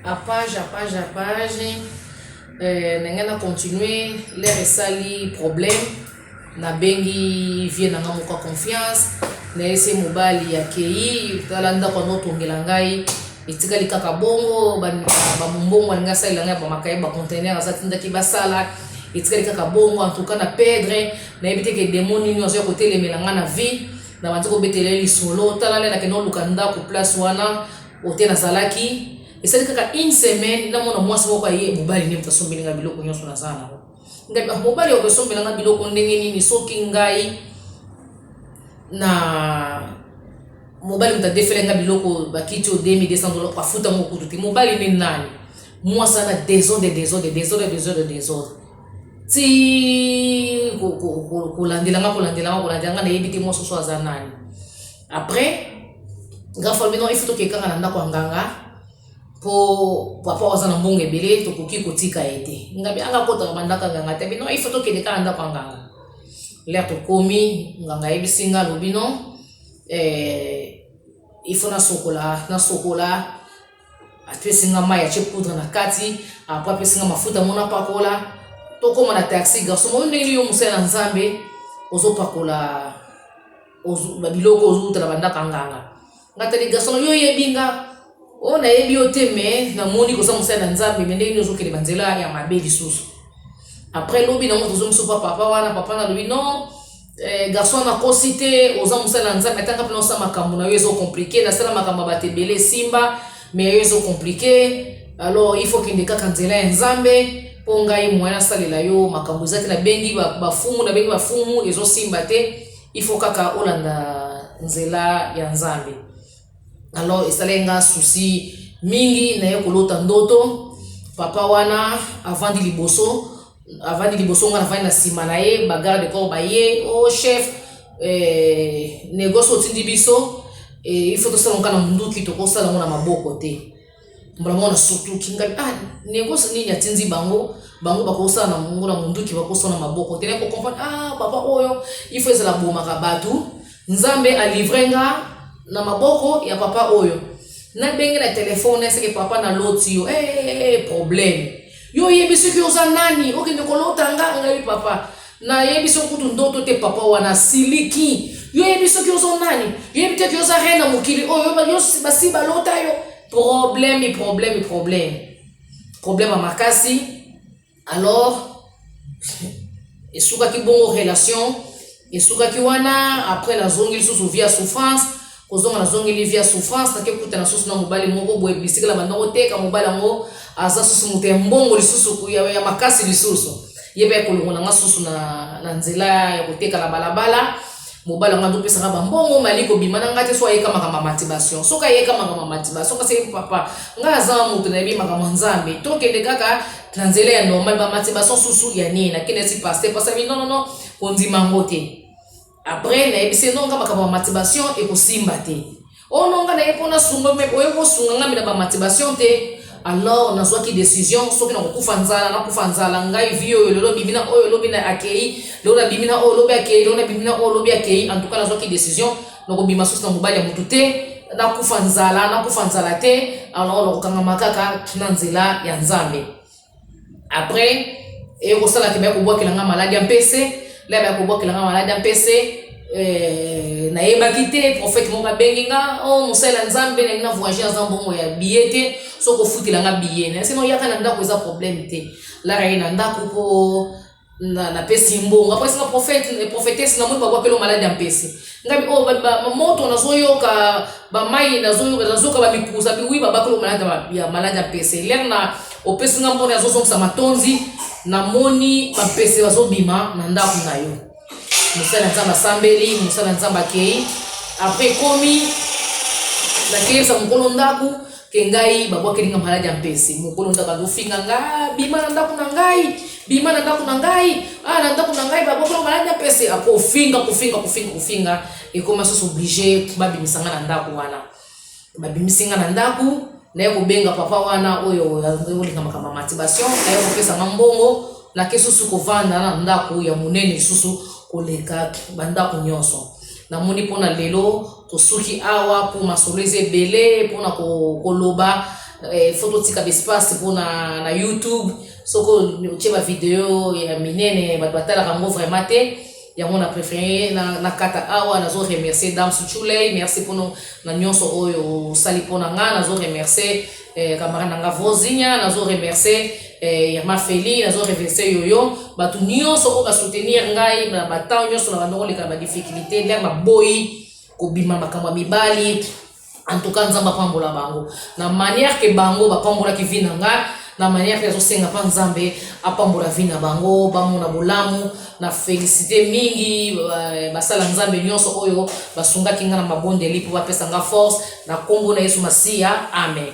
à page à page à page euh, ndenge na continue lere esali problème nabengi vie na nga moko ya confiance nayese mobali akei tala ndako yango otongela ngai etikali kaka bongo bamombongo alingi asalela ngai bamakaye bacontener aza tindaki basala etikali kaka bongo en tout cas na pedre nayebi te ke demo nini ozoya kotelemela ngai na vie na bandi kobetela ye lisolo tala lele akende oluka ndako place wana ote nazalaki esali kaka une semaine namona mwasi moko aye mobali nde moto asombeli ngai biloko nyonso naza nango ngai ah, mobali ya kosombela ngai biloko ndenge nini soki ngai na mobali moto adefele ngai biloko bakiti o 2200 dola afuta mokutu te mobali nde nani mwasi ana desordre desordre desordre desordre desordre ti kolandelanga kolandelanga kolandelanga nayebi te mwasi oso aza nani après nga falobi non ifuti okekanga na ndako ya nganga mpo papa aza na mbongo ebele tokoki kotika ye te ngabi anga kotaka bandako ya nganga te bino ifuti okende kaka na ndako ya nganga lere tokomi nganga ayebisi nga alobi non eh, ifo nasokola nasokola apesi nga mai atie poudre na kati apres apesi nga mafuta mona pakola tokóma na taxi garçon moni ndenge nini yo mosali na nzambe ozopakola babiloko ozowuta na bandako ya nganga nga tali garçon yo oyebi nga oyo nayebi yo te me namoni koza mosali na nzambe me ndenge nini ozokende banzela ya mabe lisusu apres lobi nango tozongi so pa papa wana papa nalobi non Eh, garçon na kosi te oza mosali na nzambe atanga mpona osala makambo na yo ezo komplike nasala makambo ya bato ebele esimba me yo ezo komplike alors il faut kende kaka nzela ya nzambe mpo ngai moyen asalela yo makambo eza te nabengi bafumu nabengi bafumu ezosimba te il faut kaka olanda nzela ya nzambe alors esalaki nga souci mingi naye kolota ndoto papa wana avandi liboso avandi liboso nga navandi na nsima na ye bagarde de corps baye o oh, chef eh, negoce otindi biso eh, il faut tosala nga na monduki tokosala yango na maboko te mbala mwana sutuki ngai ah negoce nini atindi bango bango bakosala na mongo na monduki bakosala maboko te nako comprendre ah papa oyo il faut ezala bomaka bato nzambe alivre nga na maboko ya papa oyo nabenge na telefone eseke papa na loti yo hey, eh, eh, eh, problème yo oyebi soki oza nani okende kolota nga ngai papa Na yebi biso kutu ndoto te papa wana siliki. Yo yebi soki ozo nani? Yo yebi te ki oza reine na mokili oyo oh, yo basi balota yo. Problème, problème, problème. Problème ya makasi. Alors esukaki bongo relation esukaki wana après nazongi lisusu vie ya souffrance kozonga na zongeli vie ya souffrance nake kutana susu na mobali moko boye bisika na banda koteka mobali yango aza susu moto ya mbongo lisusu ya, ya makasi lisusu ye mpe akolongola nga susu na, na nzela ya koteka na balabala mobali yango azopesaka bambongo mali kobima na ngai te so ayeka makambo ya motivation soki ayeka makambo ya motivation kasi ye papa ngai aza moto nayebi makambo ya nzambe tokende kaka na nzela ya normal bamotivation susu ya nini nakendesi paster pasami nonono kondima yango te Après na yebisi no nga makambo ya masturbation ekosimba te. Oh no nga na ye pona sunga me oye ko sunga nga mina ba masturbation te. Alors nazwaki decision soki na kokufa nzala na kufa nzala ngai vie oyo lelo bimina oyo lobi na akei lelo na bimina oyo lobi akei lelo na bimina oyo lobi akei en tout cas nazwaki decision na kobima susu na mobali ya moto te nakufa nzala nakufa nzala te alors na kokangama kaka na nzela ya Nzambe. après ekosala te baya kobwakela nga maladi ya mpese la baya kobwakela nga maladi ya mpese eh, nayebaki te prophète moko abengi nga o oh, mosali ya nzambe nalingi na voyage aza mbongo ya biye te soki ofutela nga biye na sino yaka na ndako eza problème te lara ye na ndako mpo na na pesi mbongo après sina prophète et prophétesse na moni bakwa kelo malade ya mpese ngabi oh ba, ba, moto nazoyoka bamai nazoyoka nazoyoka bamikuza bi oui babakelo malade ya malade ya mpese lere na opesi nga mbona azozongisa matondi namoni bampese bazobima na ndako na yo mosali ya nzambe asambeli mosali ya nzambe akei après ekomi nakeyebisa mokolo ndako ke ngai babwakeli nga maladi ya mpese mokolo nzaka azofinga nga bima na ndako na ngai bima na ndako na ngai ah, na ndako na ngai babwakeli maladi ya mpese akofinga ah, kofinga kofinga kofinga ekoma susu oblige babimisa nga na ndako wana babimisi nga na ndako naye kobenga papa wana oyo olinga makambo ya motivation naye kopesa nga mbongo nake susu kovanda na ndako ya monene lisusu koleka bandako nyonso namoni mpo na lelo Tosuki awa po masolo eza ebele pona koloba eh, fo totika baespace pona na youtube soko otie bavideo ya minene bato batalaka yango vraiment te yango na préféré na, na kata awa nazo remercier dame suchulei merci mpono na nyonso oyo osali mpo na ngai nazo remercier eh, camarade nanga Vosinia nazo remercier eh, Irma Feli nazo remercier Yoyo bato nyonso oyo ba soutenir ngai na ba temps nyonso na bandoko leka na ba difficulté ndenge baboyi kobima makambo ya mibali en tout cas nzambe apambola bango na manière ke bango bapambolaki vi na ngai na manière ke azosenga mpa nzambe apambola vi na bango bamona bolamu Na felicite mingi basala Nzambe nionso oyo basungaki nga na mabondeli po bapesa nga force na kombo na Yesu Masiya, Amen.